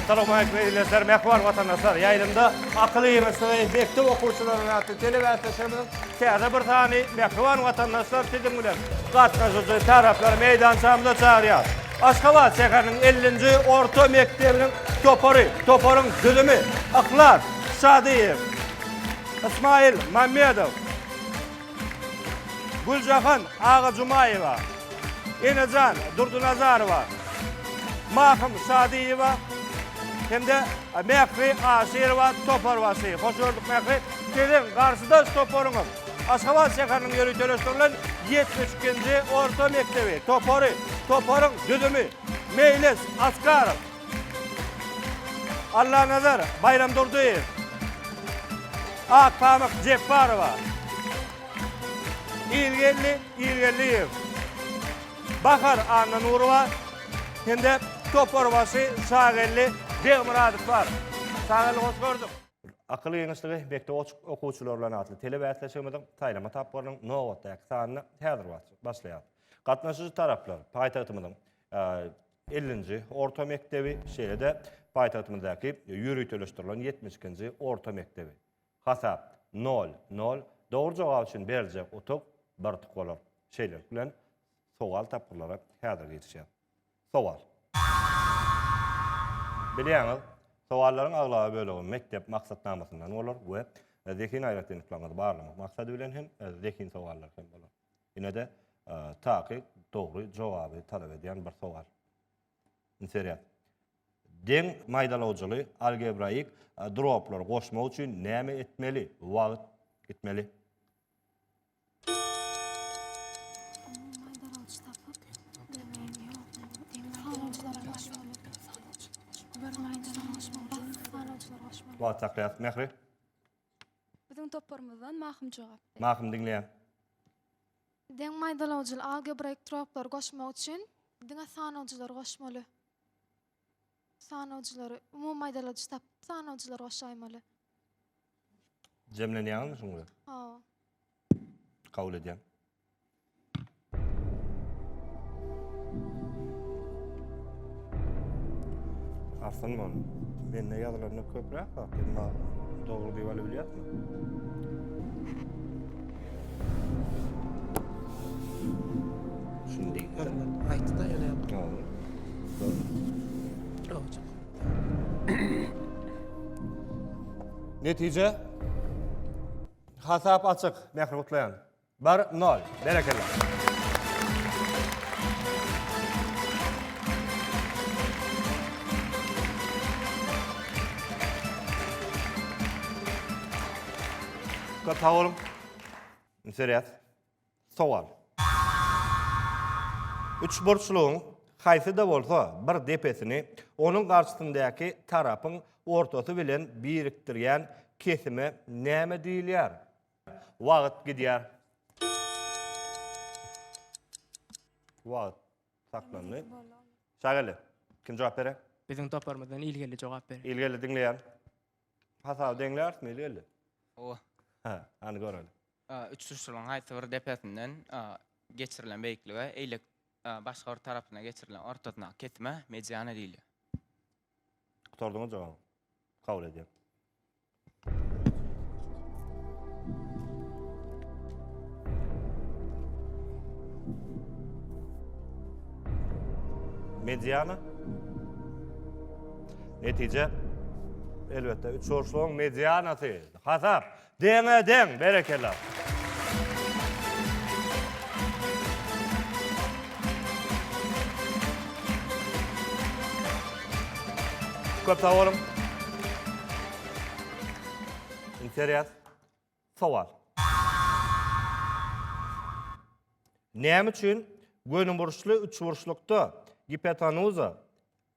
Assalamualeykum eziz Mehwan vatandaşlar. Ýaýlymda akyl ýygyşygy mekdep okuwçylarynyň atly telebäsleşigimiziň täze bir sany Mehwan vatandaşlar siziň bilen gatnaşyjy taraplary meýdançamyza çagyrýar. Aşgabat şäheriniň 50-nji orta mekdebiniň topary, toparyň düzümi Yhlas Şadyýew, Ismail Mamedow, Güljahan Agajumaýewa, Enejan Durdynazarowa, Mahym Şadyýewa hem-de Mähri Aşyrowa toparbaşy. Hoş gördük Mähri. Siziň garşydaş toparyňyz Aşgabat şäheriniň ýöriteleşdirilen ýetmiş ikinji orta mekdebi topary. Toparyň düzümi, Meýlis Askarow. Allanazar Baýramdurdyýew, Akpamyk Jepbarowa, Ilgeldi Ilgeldiýew, Bahar Annanurowa hem-de toparbaşy Şageldi Begmyradow bar. Şageldi hoş gördük. Akyl giňişligi mekdep okuwçylary bilen atly telebäsleşigimiziň saýlama tapgyrynyň nobatdaky sanyny häzir başlaýar. Gatnaşyjy taraplar paýtagtymyzyň Ellinji orta mekdebi, şeýle-de paýtagtymyzdaky ýöriteleşdirilen ýetmiş ikinji orta mekdebi. Hasap, nol, nol. Dogry jogap üçin beriljek utuk bir utuk bolar. Şeýlelik bilen, sowal tapgyrlary häzir girişýär. Sowal. Bilýäňiz, sowallaryň aglaba bölegi mekdep maksatnamasyndan bolar we zehin aýratynlyklaryňyzy barlamak maksady bilen hem zehin sowallary hem bolar. Ine-de, takyk, dogry jogaby talap edýän bir sowal. Indi serýaz. Deň maýdalawjyly algebraik droplary goşmak üçin näme etmeli? Wagt gitmeli. Wagt saklaýas, Mähri. Biziň toparymyzdan Mahym jogap berdi. Mahym diňleýän. Deň maýdalawjyly algebraik troplary goşmak üçin diňe sanawjylary goşmaly. Sanawjylary, umumy maýdaladjy tapyp sanawjylary goşaýmaly. Jemlenýäňizmi şuň bilen? Hawa. Kabul edýän. Arslan bol. Mende ýazylarynda köpräk bak, emma dogry diýip alyp bilýärmi? Şundi. Hormat. Aýtdy da ýene. Dogry. Dogry. Netije? Hasap açyk, Mähri gutlaýan. Bir nol. Berekella. Köp sag boluň. Indi sereýäs. Sowal. Üçburçlugyň haýsy-da bolsa bir depesini onuň garşysyndäki tarapyň ortasy bilen birikdirýän kesime näme diýilýär? Wagt gidýär. Wagt saklandy. Şageldi. Kim jogap berer? Biziň toparymyzdan ilgeli jogap berer. Ilgeli diňleýär. Hasaby deňlärmi ilgeli? O. Ha, hany göreli. Üç suçluň haýsy bir depesinden geçirilen beýiklige, eýlek başga bir tarapyna geçirilen ortasyna kesime mediana diýilýär. Gutardyňyz jogap. Kabul edýän. Mediana. Netije elbetde 3 orslaryň medianasy. Hasap. Deňe deň berekella. Köp sag boluň. Interes. Sowal. Näme üçin gönüburçly üçburçlukda gipotenuza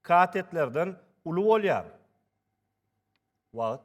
katetlerden uly bolýar? Wagt.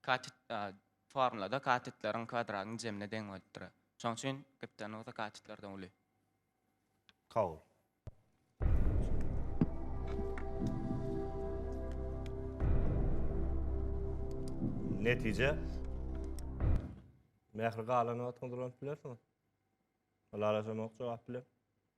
Katet formulada katetleriň kwadratynyň jemine deň bolup durar. Şonuň üçin giptenuza katetlerden uly. Kabul. Netije. Mähri galan wagtyňyz ulanyp bilersiňiz. Ylalaşamok jogap bilen.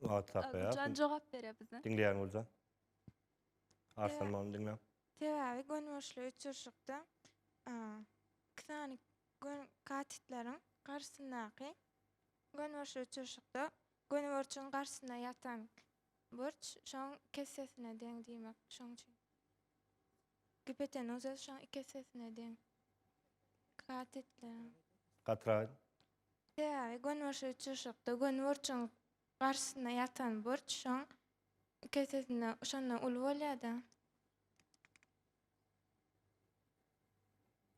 Wagt saklaýar. Güljan jogap berýär bize. Diňleýän Güljan. Arslan many diňle. Sebäbi gönüburçly uçuşykda iki sany gön katitleriň garşysyndaky gönüburçly uçuşykda gönüburçuň garşysynda ýatan burç şoň kessesine deň diýmek. Şoň üçin. Gipotenuza şoň iki essesine deň. Katitleriň. Gatraý. Sebäbi gönüburçly uçuşykda gönüburçuň garşysynda ýatan burç şoň kesesinde şondan uly bolýar-da.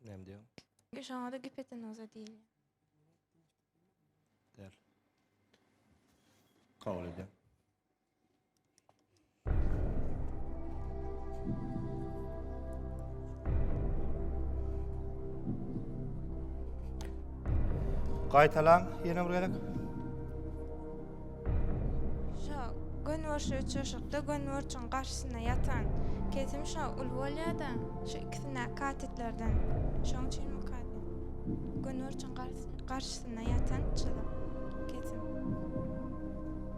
Näme diýýäň? Şoňa-da gipotenuza diýilýär. Däl. Kabul edýän. Gaýtalaň, ýene bir gezek. Şo gön borşy uçuşykda gön borçuň garşysyna ýatan kesim şo ul bolýada, şu ikisine katetlerden. Şoň üçin bu katet. Gön borçuň garşysyna ýatan çyzyk kesim.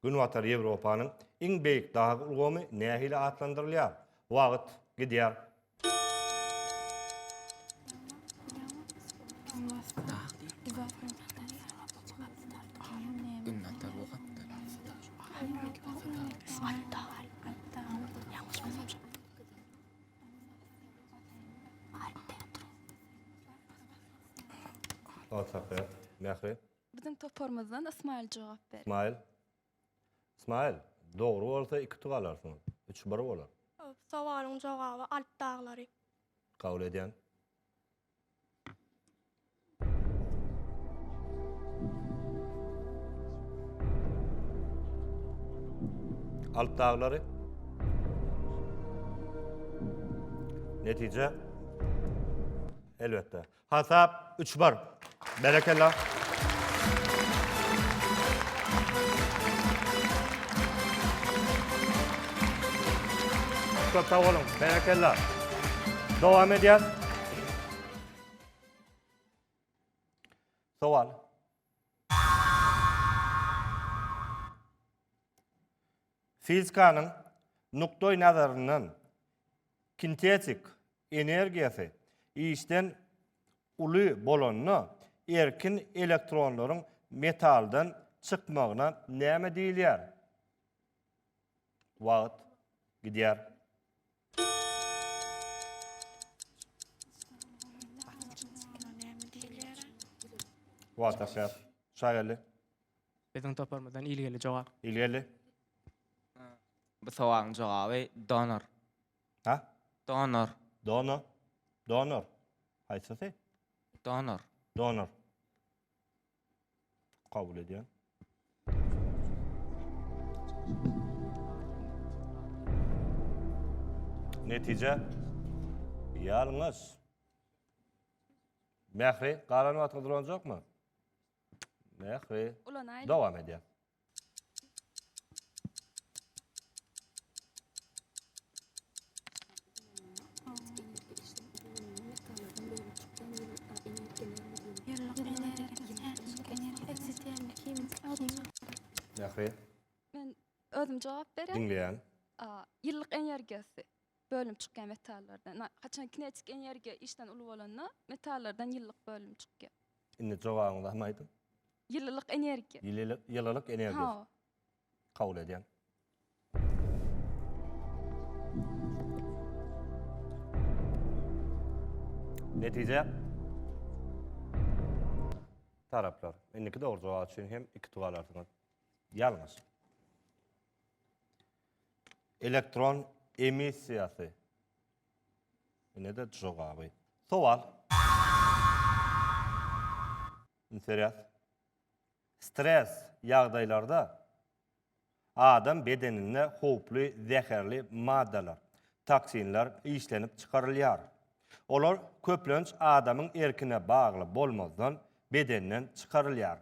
Günbatar Ýewropanyň iň beýik dag ulgamy nähili atlandyrylýar? Wagt gidýär. Wagt akýar. Mähri. Biziň toparymyzdan Ysmaýyl jogap berýär. Ysmaýyl. Ysmaýyl, dogry bolsa iki utuk alarsyň. Üç bir bolar. Sowalyň jogaby Alp daglary. Kabul edýän. Alp daglary. Netije. Elbetde. Hasap üç bar. Berekella. Köp sag boluň. Berekella. Dowam edýär. Sowal. Fizikanyň nukdaý nazaryndan kintetik energiýasy işden uly bolanda erkin elektronlaryň metaldan çykmagyna näme diýilýär? Wagt gidýär. Wagt akýar. Şageldi. Biziň toparymyzdan ilgili jogap. Ilgeldi. Bu sowalyň jogaby donor. Ha? Donor. Dono. Donor. Haýsysy? Donor. Donor. Kabul edýän. Netije. Ýalňyş. Mähri, galan wagtyňyz ulanjakmy? Mähri. Ulanaýlyň. Dowam edýän. Mähri, Men özüm jogap berýän. diňleýän. A, Ýyllyk energiýasy bölünip çykýan metallardan. Na- Haçan kinetik energiýa işden uly bolanda metallardan ýyllyk bölünip çykýar. Indi jogabyňyzy hem aýdyň. Ýylylyk energiýa. Ýylylyk ýylylyk energiýasy. Hawa. Kabul edýän. Netije. Taraplar. Indiki dogry jogap üçin hem iki tug alarsyňyz. Ýalňyş. Elektron emissiýasy. Ine-de jogaby. Sowal. Interes. Stres ýagdaýlarda adam bedeninde howply zäherli maddalar, toksinler işlenip çykarylýar. Olar köplenç adamyň erkine bagly bolmazdan bedenden çykarylýar.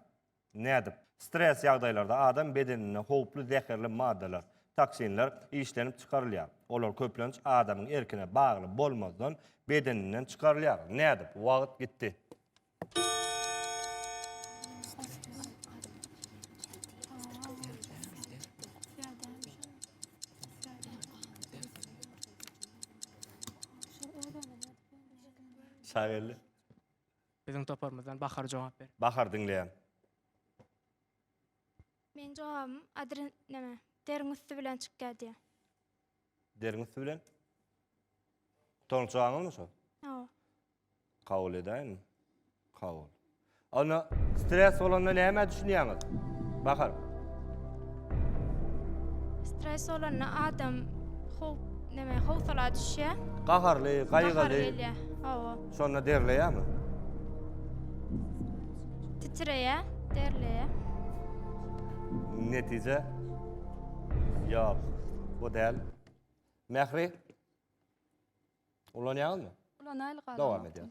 Nädip? Stres ýagdaýlarda adam bedeninde howply zäherli maddalar, toksinler, işlenip çykarylýar. Olar köplenç adamyň erkine bagly bolmazdan bedeninden çykarylýar. Nädip? Wagt gitdi. Şageldi. Biziň toparymyzdan Bahar jogap ber. Bahar diňleýän. Meniň jogabym adren näme deriň üsti bilen çykýar diýýär. Deriň üsti bilen? Toňuş jogabyňyzmy şo? Hawa. Kabul edäýinmi? Kabul. Onda stres bolanda nämä düşünýäňiz? Bahar. Stres bolanda adam how näme howsala düşýär. Gaharly, gaýgyly. Gahary gelýär. Hawa. Şonda derleýärmi? Titreýär, derleýär. Netije? Ýok, bu däl. Mähri? Ulanýaňyzmy? Ulanaýlyk agam. Dowam edýän.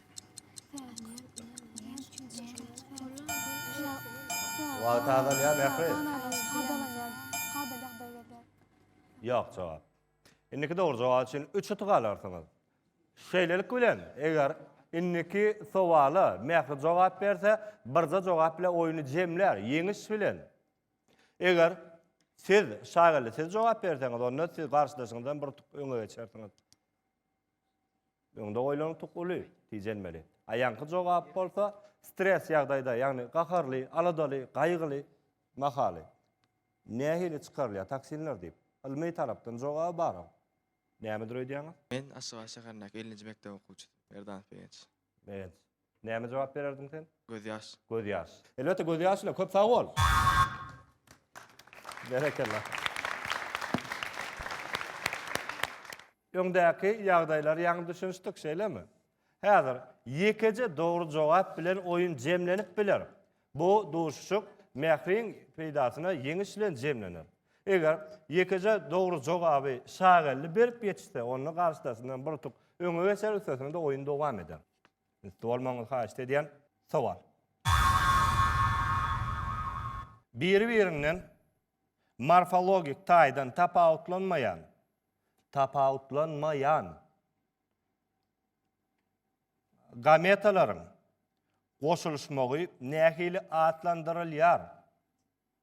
Wagt azalýar Mähri. Ýok jogap. Indiki dogry jogap üçin üç utuk alarsyňyz. Şeýlelik bilen, eger indiki sowala Mähri jogap berse, birje jogap bilen oýny jemlär, ýeňiş bilen. Eger siz, Şageldi, siz jogap berseňiz, onda siz garşydaşyňyzdan bir utuk öňe geçersiňiz. Öňde goýlan utuk uly, tijenmeli. A ýaňky jogap bolsa stres ýagdaýda, ýagny gaharly, aladaly, gaýgyly mahaly nähili çykarylýar toksinler diýip, ylmy tarapdan jogaby baram. Nämedir öýdýäňiz? Men Aşgabat şäherindäki ellinji mekdep okuwçysy, Merdanov Begenç. Begenç. Näme jogap bererdiň sen? Gözýaş. Gözýaş. Elbetde gözýaş bilen köp sag bol. Berekella. Öňdäki ýagdaýlar ýaňy düşünişdik, şeýlemi? Häzir ýekeje dogry jogap bilen oýun jemlenip biler. Bu duşuşyk Mähriň peýdasyna ýeňiş bilen jemlener. Eger ýekeje dogry jogaby Şageldi berip ýetişse, onda garşydasyndan bir utuk öňe geçer, üstesine-de oýun dowam eder. Üsti bolmagyňyzy haýyşt edýän. Sowal. Biri-birinden morfologik taýdan tapawutlanmaýan, tapawutlanmaýan, gametalaryň goşulyşmagy nähili atlandyrylýar?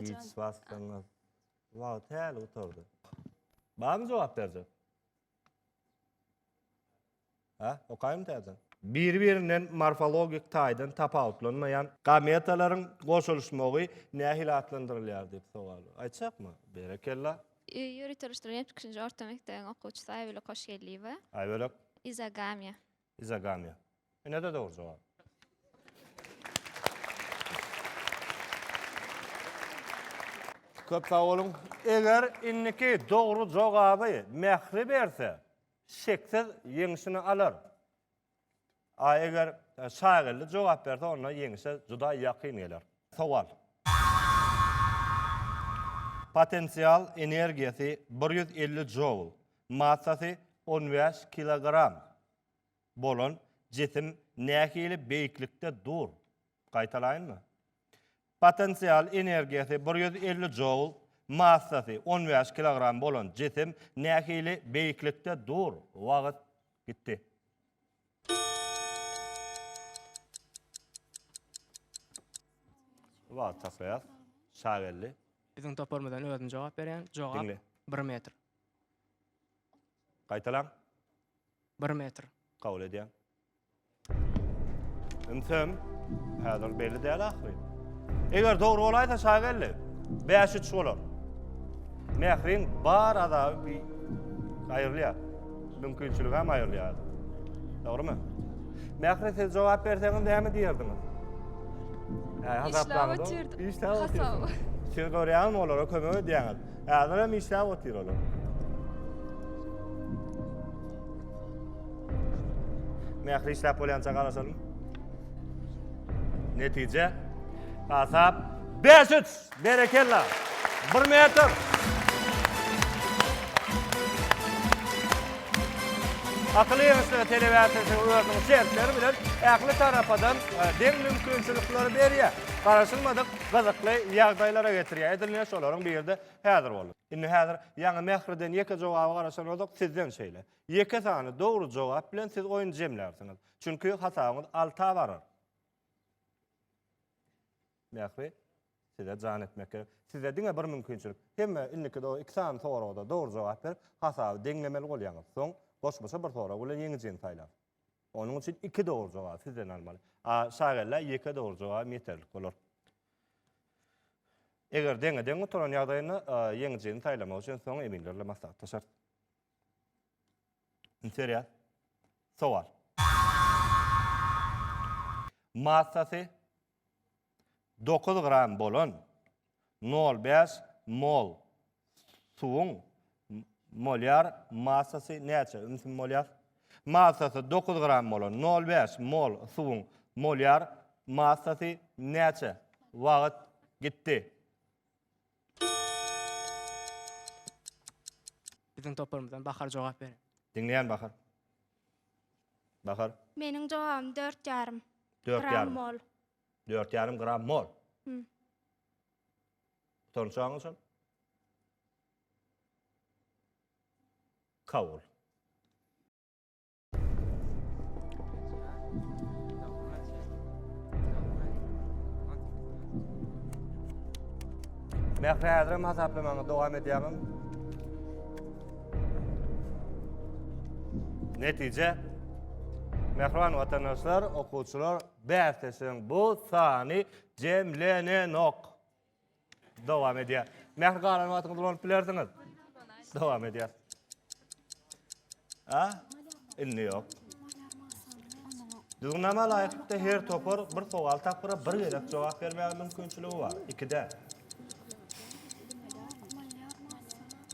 Hiç basdyňyz. Wagt häli gutardy. Barmy jogap berjek? Hä, okaýym täzeden. Biri-birinden morfologik taýdan tapawutlanmaýan gametalaryň goşulyşmagy nähili atlandyrylýar diýip sowal. Aýtjakmy? Berekella. Ýörite-oluşdyrylan ýetmiş üçünji orta mekdebiň okuwçysy Aýbölek Hoşgeldiýewa. Aýbölek. Izogamiýa. Izogamia. Ine-de dogry jogap. Köp sag boluň. Eger indiki dogry jogaby Mähri berse, şeksiz ýeňşini alar. A eger Şageldi jogap berse, onda ýeňşe juda ýakyn geler. Sowal. Potensial energiýasy bir ýüz elli joul, massasy on bäş kilogram bolan jisim nähili beýiklikde dur? Gaýtalaýynmy? Potensial energiýasy bir ýüz elli joul, massasy on bäş kilogram bolan jisim nähili beýiklikde dur? Wagt gitdi. Wagt saklaýas. Şageldi. Biziň toparymyzdan özüm jogap berýän. Jogap, bir metr. Gaýtalaň. Bir metr. Kabul edýän. Ünsem, häzir belli däl ahyry. Eger dogry bolaýsa şa geldi. 5-3 bolar. Mähriň bar azaby bir aýrylýar. Mümkinçiligi hem aýrylýar. Dogrymy? Mähri siz jogap berseňiz näme diýerdiňiz? Hä, hasaplaňyz. Işläp otyrdym. Işläp otyrdym. Siz görýäňizmi olara kömek edýäňiz. Häzir hem işläp otyr olar. Nähili işläp bolýança garaşalım. Netije. Hasap 5-3. Berekella. 1 metr. Akyly ýeňişlige telebäsesi özüniň şertleri bilen ähli tarapadan e, deň mümkinçilikleri berýär. Garaşylmadyk gyzykly ýagdaýlara getirýär. Edil ine şolaryň biri-de häzir boldy. Indi häzir ýaňy Mähriden ýeke jogaba garaşan bolsak, sizden şeýle. Ýeke sany dogry jogap bilen siz oýny jemlärsiňiz. Çünki hasabyňyz alta barar. Mähri, size jan etmek gerek. Size diňe bir mümkinçilik. Hemme indiki do iki sany soraga-da dogry jogap berip, hasaby deňlemeli bolýaňyz. Soň goşmaça bir sorag bilen ýeňijini saýlaň. Onuň üçin iki dogry jogaby sizden almaly. A şagella ýeke dogry jogabym ýeterlik bolar. Eger deňe-deň gutaran ýagdaýynda ýeňijini saýlamak üçin soň eminlerle maslahatlaşarys. Seriýa. Sowal. Massasy Dokuz gram bolan nol bäş mol suwuň molýar massasy näçe? Molýar massasy dokuz gram bolan nol bäş mol suwuň molýar massasy näçe? Wagt gitdi. Biziň toparymyzdan Bahar jogap berer. Diňleýän Bahar. Bahar. Meniň jogabym dört ýarym. Dört ýarym. Gram mol. Dört ýarym gram mol. Hum. Sonuç jogabym şol. Kabul. Mähri häzirem hasaplamaňy dowam edýäňiz. Netije Mähriban watandaşlar, okuwçylar bäsleşigiň bu sany jemlenenok. Dowam edýär. Mähri galan wagtyňyzy ulanyp bilersiňiz. Dowam edýär. Ha? Indi ýok. Düzgünnama laýyklykda her topar bir sowal tapgyra bir gezek jogap bermäge mümkinçiligi bar. Ikide.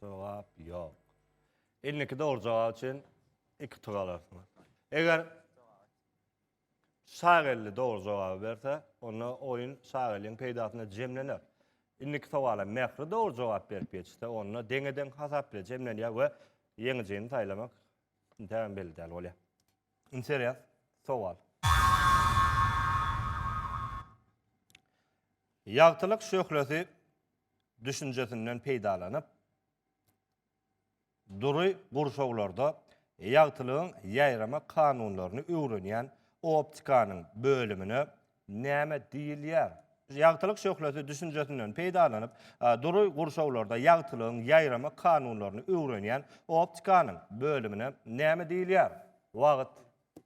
Jogap ýok. Indiki dogry jogap üçin iki tug alarsyňyz. Eger Sag elli dogry jogaby berse, onda oýun sag eliň peýdasyna jemlener. Indiki sowala Mähri dogry jogap berip geçse, onda deňe-deň hasap bile jemlenýär we ýeňijini saýlamak intägem belli däl bolýar. Interes sowal. Ýagtylyk şöhlesi düşünjesinden peýdalanyp, Dury gurşawlarda ýagtylygyň ýaýrama kanunlaryny öwrenýän optikanyň bölümine näme diýilýär? Ýagtylyk şöhlesi düşünjesinden peýdalanyp, dury gurşawlarda ýagtylygyň ýaýrama kanunlaryny öwrenýän optikanyň bölümine näme diýilýär? Wagt.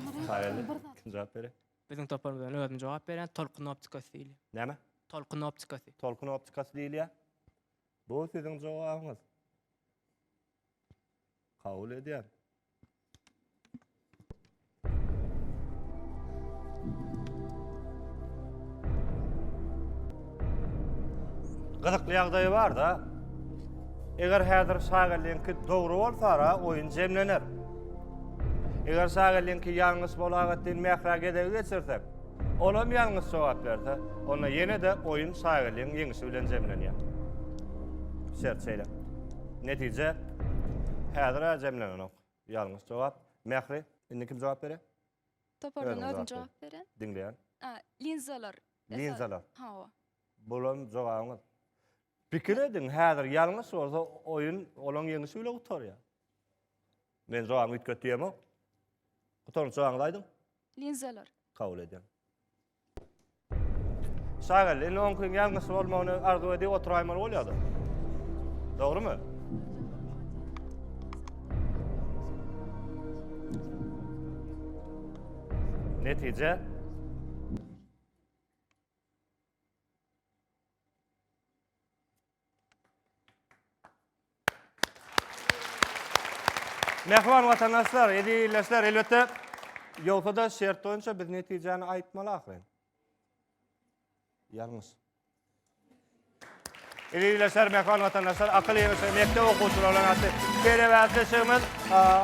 Taýýarly. Kim jogap berer? Biziň toparymyzdan özüm jogap berýän. Tolkun optikasy diýilýär. Näme? Tolkun optikasy. Tolkun optikasy diýilýär. Bu siziň jogabyňyz. Kabul edýän. Gyzykly ýagdaýy barda, eger häzir Şagelliňki dogry bolsara oýun jemlener. Eger Şagelliňki ýalňyş bolagat diýip Mährä gezegi geçirsek, olam ýalňyş jogap berse, onda ýene-de oýun Şagelliň ýeňişi bilen jemlenýär. Şert şeýle. Netije häzir-ä jemlenenok. Ýalňyş jogap. Mähri, indi kim jogap berýär? Topardan özüm jogap beren. Diňleýän. Linzalar. Linzalar. Hawa. Bolan jogabyňyz. Pikir ediň, häzir ýalňyş bolsa oýun olaň ýeňişi bile gutarýar. Men jogabyňy üýtget diýemok. Gutarnyş jogabyňyzy aýdyň. Linzalar. Kabul edýän. Şagal, indi on gün gel gysy bolmagyny arzu edip oturaýmaly bolýar da. Dogrymy? Netije Mähriban watandaşlar, eziz ildeşler, elbetde, ýogsa-da şert boýunça biz netijäni aýtmaly ahyryn. Ýalňyş. Eziz ildeşler, mähriban watandaşlar, akyl ýygyşy mekdep okuwçylary bilen atly telebatlaşygymyz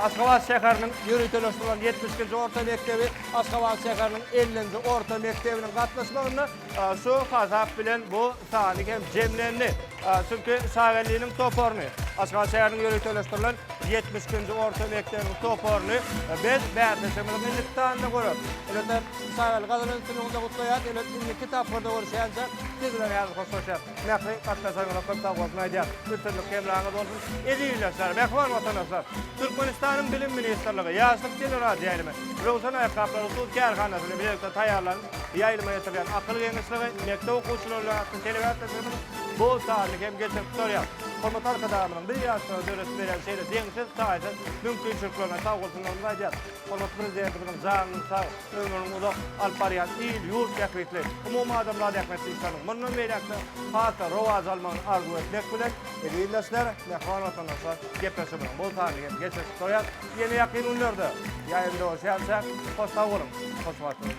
Aşgabat şäheriniň ýöriteleşdirilen ýetmiş ikinji orta mekdebi, Aşgabat şäheriniň ellinji orta mekdebiniň gatnaşmagynda Şu hasap bilen bu sany hem jemlendi. Çünki Şageliniň toparyny, Aşgabat şäheriniň ýöriteleşdirilen ýetmiş ikinji orta mekdebiniň toparyny biz bäsleşigimiziň indiki sanynda göreris. Elbetde, Şagelini gazanan üstünligiňizde gutlaýarys. Elbetde, indiki tapgyrda görüşýänçä, siz bilen häzir hoşlaşýarys. Mähriň gatnaşanyňyza köp sag bolsun aýdýas. Üstünlik hemraňyz bolsun. Eziz ildeşler, mähriban watandaşlar! Türkmenistanyň Bilim ministrligi, Ýaşlyk teleradioýaýlymy, Röwşen aýakgaplary hut kärhanasyny bilelikde taýýarlanyp, ýaýlyma ýetirýän Akyl geňeşligi, Mekdep okuwçylary atly telebäsleşigimiz bu sanly hem geçirip durýar. Hormatly Arkadagymyzyň biz ýaşlara döredip berýän şeýle deňsiz, taýsyz mümkinçiliklerine sag bolsunlarymyzy aýdýas. Hormatly Prezidentimiziň janynyň sag, ömrüniň uzak, alyp barýan il-ýurt bähbitli, umumadamzat ähmiýetli işleriniň mundan beýläk-de has-da rowaç almagyny arzuw etmek bilen, ildeşler, mähriban watandaşlar, gepleşigimiziň bu sanyny hem geçirip gutaryas. Ýene ýakyn günlerde ýaýyň dowamçy äýtjek. Hoş sag boluň, hoş wagt boluň!